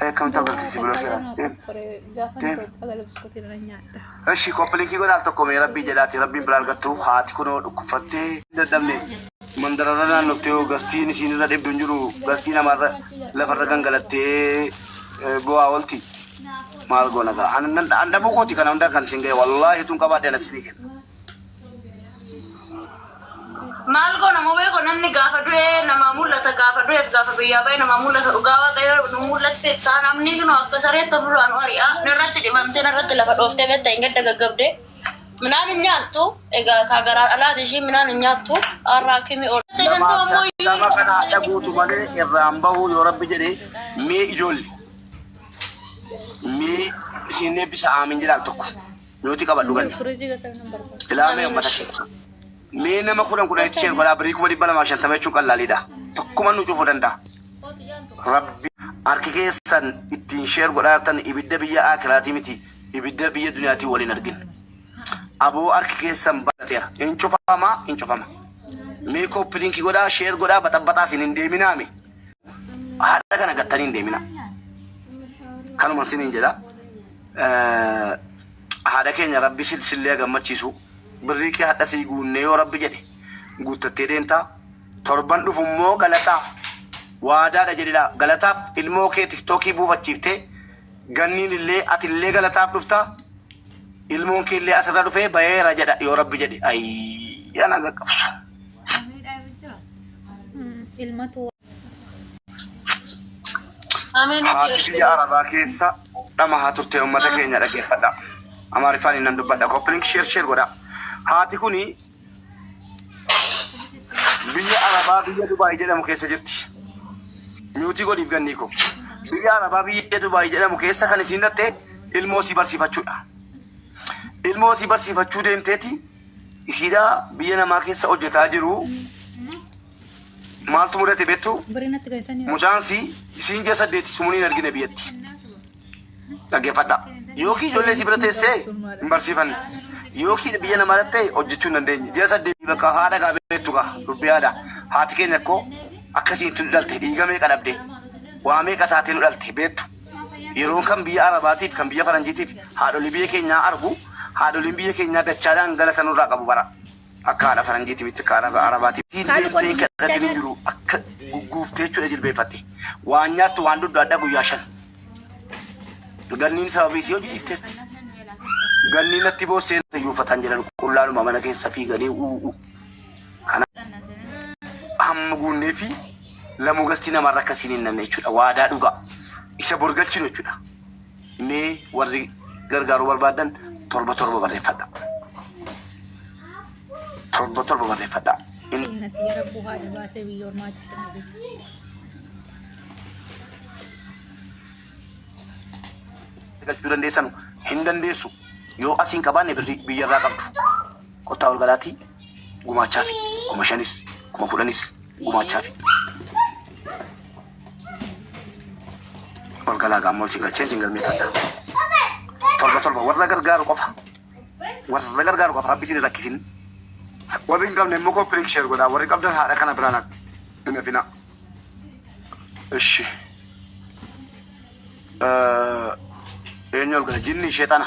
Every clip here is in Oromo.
Akkamitti agarsiisi bira seera? Eshi koppiliikii godhaaf tokko mee rabbii jedhaati rabbiin bira argattu haati kunoo dhukkubfattee dadhabne mandararra naannoftee hoo gastiin isiin irra dhibdu hin jiru gastii namarra lafarra gangalattee eh, bu'aa oolti maal goona gaa an dhabuu kooti kana hundaa kan isin ga'e wallaahi tun qabaadhe ana isinii kenna. Maal goona mubee koo namni gaafa du'e namaa mul'ata gaafa du'eef gaafa biyyaa ba'e namaa mul'ata dhugaa waaqayyo nu mul'atte taa namni kunoo akka sareetti ofirraa nu ari'a narratti dhibamtee narratti lafa dhooftee beekta hin gadda gaggabde minaan hin nyaattu egaa kaa garaa dhalaati ishii minaan hin nyaattu har'a akimi ooltee kan ta'u ammoo iyyuu Nama kana haadha guutu malee irraan bahuu yoo rabbi jedhe mee ijoolle mee isin eebbisa aamin jedhaal tokko. Nuti qabadhu ganna. Firiijii keessaa hin barbaadu. Ilaamee uummata ishee. Mee nama kudhan kudhan itti isheen godhaa birii kuma dhibba lamaa fi shantama jechuun qallaaliidha. Tokkuma nu cufuu danda'a. Rabbi harki keessan ittiin sheer godhaatan ibidda biyya akiraatii miti ibidda biyya duniyaatii waliin argin. Aboo harki keessan barateera. Hin cufama hin cufama. Mee koppiliinki godhaa sheer godhaa baxabbaxaa isin hin deeminaa mee. Haadha kana gattanii hin deeminaa. Kanuma isin hin jedhaa. haadha keenya rabbi silsillee gammachiisu birrii kee hadha sii guunnee yoo rabbi jedhe guuttattee deemtaa torban dhufu immoo galataa waadaadha jedhilaa galataaf ilmoo kee tiktookii buufachiiftee ganniin illee ati illee galataaf dhuftaa ilmoon kee illee asirra dhufee bayeera jedha yoo rabbi jedhe ayii ana gaqqabsu. Miidhaa jira. Ilmatu Haati biyya Arabaa keessa dhama haa turte uummata keenya dhaggeeffadha. Amaariffaan inni nan dubbadha. Koppilink sheer sheer godha. Haati kuni biyya Arabaa biyya Dubaay jedhamu keessa jirti. Miutii godhiif gannii koo. Biyya Arabaa biyya Dubaay jedhamu keessa kan isiin dhatte ilmoo si barsiifachuudha. Ilmoo si barsiifachuu deemteeti isiidhaa biyya namaa keessa hojjetaa jiru. Maaltu mudate beektu? Mucaan si isiin ji'a saddeeti sumuun hin argine biyyatti. Dhaggeeffadha. Yookiin ijoollee si bira teessee hin barsiifanne. Yookiin biyya namaa dhattee hojjechuu hin dandeenye. Ji'a saddeeti bakka haadha gaa beektu gaa dubbii haadha. Haati keenya koo akkasiin tun dhalte dhiiga meeqa dhabde. Waa meeqa taatee nu dhalte beektu. Yeroon kan biyya Arabaatiif kan biyya Faranjiitiif haadholii biyya keenyaa argu haadholiin biyya keenyaa dachaadhaan galata nurraa qabu bara. Akka haadha faranjiiti mitti akka haadha arabaati. Siin Haati deemtee hin kootu kadhatin hin jechana. jiru akka gugguuftee jechuudha jilbeeffatte. Waan nyaattu waan dhuddu adda guyyaa shan. Ganniin sababii isii hojii dhifteerti. Ganniin natti boossee iyyuu uffataan jiran qullaadhuma mana keessa fiiganii uuu. Kana hamma guunnee fi lamuu gastii namarra akkasiin hin nanne jechuudha. Waadaa dhugaa isa borgalchinu jechuudha. Mee warri gargaaruu barbaaddan torba torba barreeffadha. Torba torba barreeffadha. Inni Seenati yara buhaa dhabaasee biyya ormaa keessa dhabe. galchuu dandeessan hin dandeessu. Yoo asiin qabaanne birrii biyyarraa qabdu. Kottaa ol galaatii gumaachaa fi kuma shanis kuma kudhanis gumaachaa fi Ol galaa gaammoo isin galchee isin galmeeffadha. Torba torba warra gargaaru qofa. Warra gargaaru qofa rabbi isin rakkisin. Warri hin qabne immoo kooppilik sheer godhaa. Warri qabdan haadha kana biraan hin hafina. Ishi. Eenyu ol gala? Jinni sheexana.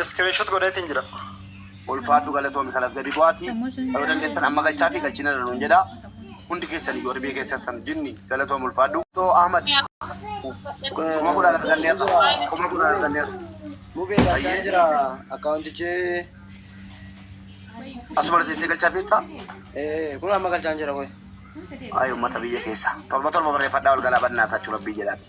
Iskiriinshot godheetiin jira. Ulfaadhu galatoomi kanas gadi bu'aati. Yoo dandeessan amma galchaa fi galchina irra nuun jedha. Hundi keessan iyyuu warri biyya keessattan jinni galatoomi ulfaadhu. Too Ahmad kuma kudhaan argannee irra kuma kudhaan argannee irra. Mubee galchaan jira akkaawuntichi Asuma teessee galchaa fiirtaa? eh, kun amma galchaan jira qoy. Ayi uummata biyya keessa. Torba torba barreeffadhaa ol galaa bannaa taachuu rabbii jedhaati.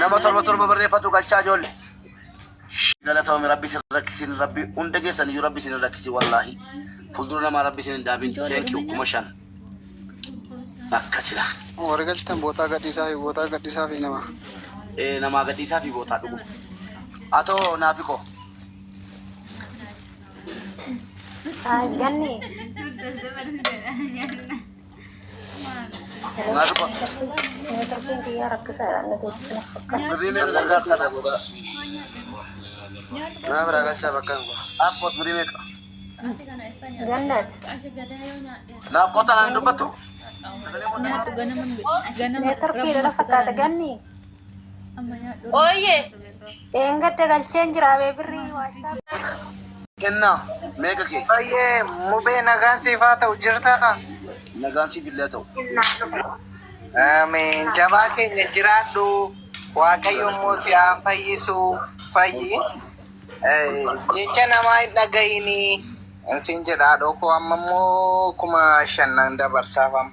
Nama torba torba barreeffatu galchaa ijoolli. Galatoomi rabbi isin rakkisin rabbi hunda keessan iyyuu rabbi isin rakkisi wallaahi. Fuuldura namaa rabbi isin hin daabin. Thank you kuma shan. Bakka silaa. Warri galchitan bootaa gadhiisaa fi bootaa gadhiisaa fi nama. Eh, namaa gadhiisaa fi bootaa dhugu. Atoo naafi koo. Ganni. Tarbiin biyyaa rakkisaadha. Inni beeksisa na fakkaata. Nama biraa galchaa bakka hin bu'a. Paaspoort birii meeqa? Gannaati. Naaf qotaan ani dubbatu. Mee tarbiidha na fakkaata ganni. Ooyyee. Dheengadda galcheen jira abee birrii waassaap. Kennaa meeqa kee? Baay'ee mubee nagaan siif haa ta'u jirta kaa. Nagaan siif illee haa ta'u. Ameen jabaa keenya jiraadhu waaqayyo immoo si haa fayyisu fayyi jecha namaa hin dhagayini sin jedha haadhoo koo amma immoo kuma shannan dabarsaaf amma.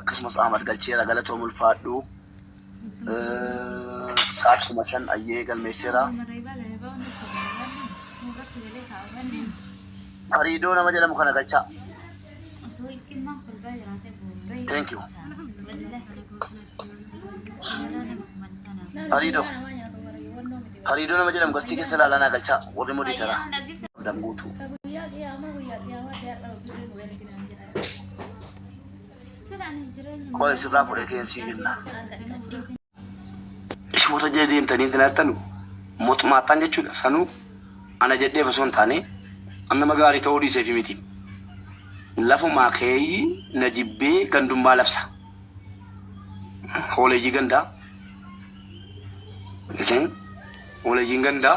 akkasumas Ahmad galcheera galatoom ulfaadhu sa'aat kuma shan ayyee galmeesseera. Fariidoo nama jedhamu kana galchaa. Thank you. Fariidoo. Fariidoo nama jedhamu galtii keessa ilaalaa naa galchaa warri mudii taraa. Damguutuu. Qola isirraa fudhee keen sii jenna. Isin warra jala deemtanii itti naattanu mootummaattaan jechuudha. Sanuu ana jedheef osoo hin taane an nama gaarii ta'uu dhiiseefi miti. Lafumaa keeyyi na jibbee gandummaa labsa. Hooleeyyii gandaa. Isin hooleeyyiin gandaa.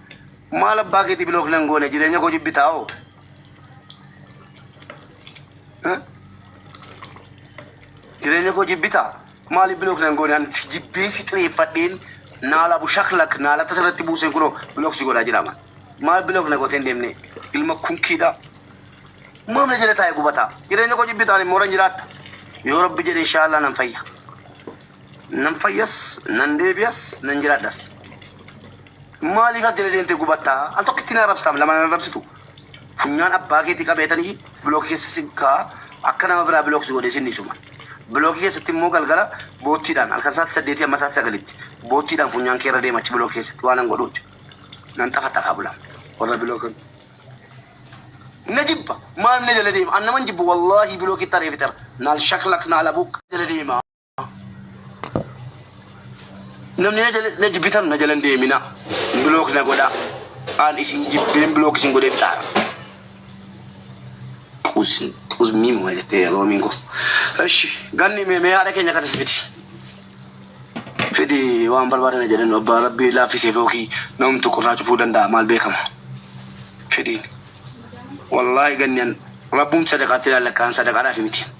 Maal abbaa keetii bilook nan goone jireenya koo jibbitaa hoo? Eh? Jireenya koo jibbitaa? Maaliif bilook nan goone ani si jibbee si xireeffadheen naala bu shaklak naala tasa irratti buuseen kunoo bilook si godhaa jiraama. Maal bilook na goteen deemne ilma kunkiidhaa. Maaf na jala taa'e gubataa? Jireenya koo jibbitaan immoo nan jiraadha. Yoo rabbi jedhe inshaallah nan fayya. Nan fayyas, nan deebi'as, nan jiraadhas. Maaliif as jala deemtee gubattaa? Al tokkitti na arrabsitaam lama na arrabsitu. Funyaan abbaa keetii qabeetanii bilookii keessa si kaa akka nama biraa bilookii si godhee sin dhiisuma. Bilookii keessatti immoo galgala boottiidhaan halkan sa'aatii saddeetii amma sa'aatii sagalitti boottiidhaan funyaan kee irra deema achi bilookii keessatti waan an godhu jechuudha. Nan xafaxafaa bula. Warra bilookan na jibba maal na jala deema an naman jibbu wallaahi bilookitti ari'ee fixera naal shaklak naal abuuk jala deema. Namni na jala- na jibbitan na jalan deemina. Bilook na godha. Aan isin jibbeen bilook isin godhee fixaara. Qus- Qusmii moo jettee roomiin koo. Eshi ganni mee mee haadha keenya kanas fiti. Fidi waan barbaadan jedhan abbaa rabbii laaffisee fookii namtu qurraa cufuu danda'a maal beekama. Fidiin. Wallaahi ganni an rabbuun sadaqaatti ilaalakkaan sadaqaadhaaf miti.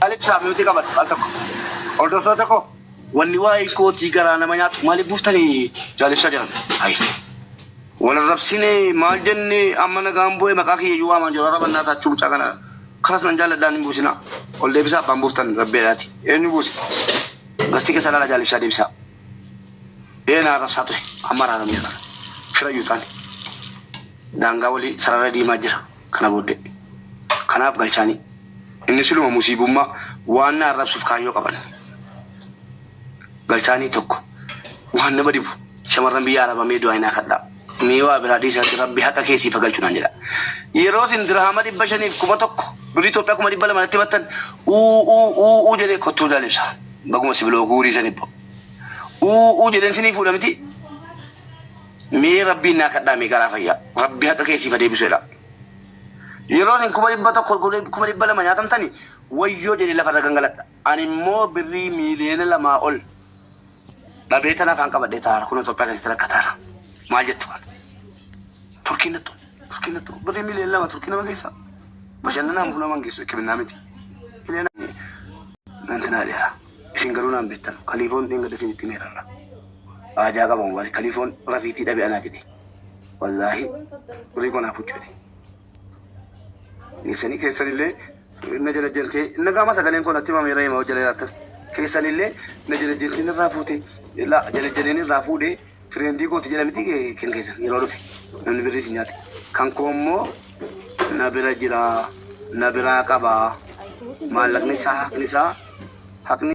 Maaliif saamiyootii qabadhu al tokko hordoftoota koo wanni waa'ee kootii garaa nama nyaatu maaliif buuftanii jaalessaa jiran hayi wal arrabsine maal jenne amma nagaan bu'e maqaa kiyya iyyuu waamaan jiru arrabannaa taachuu mucaa kana kanas nan jaalladhaan hin buusinaa ol deebisaa abbaan buuftan rabbeedhaati eenyu buuse gasti keessa laala jaalessaa deebisaa eenaa arrabsaa ture amma araaramee fira yuuxaan daangaa walii sarara diimaa jira. kana booddee. Kanaaf galchaanii. Inni siluma musiibummaa waan na arrabsuuf kaayyoo qaban. Galchaanii tokko. Waan nama dhibu shamarran biyya arabaa mee du'aa inaa kadhaa. Mee waa biraa dhiisaatti rabbi haqa keessii fagalchu naan jedha. Yeroo isin dirhaama dhibba shaniif kuma tokko birrii Itoophiyaa kuma dhibba lama natti battan uu uu uu uu jedhee kottuu daalibsa. Baguma sibiloo guurii san ibbo. Uu uu jedheen sinii fuudha miti. Mee rabbiin naa kadhaa mee garaa fayyaa rabbi haqa kee siif adeebisu jedha. Yeroo isin kuma dhibba tokko kuma dhibba lama nyaatamtani wayyoo jedhee lafarra gangaladha. Ani immoo birrii miiliyoona lamaa ol dhabee tan afaan qabadhee taara kun Itoophiyaa keessatti rakkataara. Maal jettu kana? Turkiin nattu turkiin nattu birrii miiliyoona lama turkii nama keessa bashannanaan fuula mangeessu hikkiminaa miti. Miiliyoona nantinaa dheeraa. Isin garuu naan beettanu. Kaliifoon dheengadda isinitti hime rarra. aa ja'a qaban wly kaliifoon rafiitii dhabe anaa jedhe wallaahi birrii koo naa fudhu jedhe keessanii keessanillee na janajjantee nagaama sagaleen koo natti himame reema hojjala jiraattan keessanillee na janajjantee narraa fuute la janajjaneen irraa fuudhee Trendii kooti jedha miti kan keessan yeroo dhufe namni birrii isin nyaate kan koo immoo na bira jira na biraa qaba maallaqni isaa haqni isaa haqni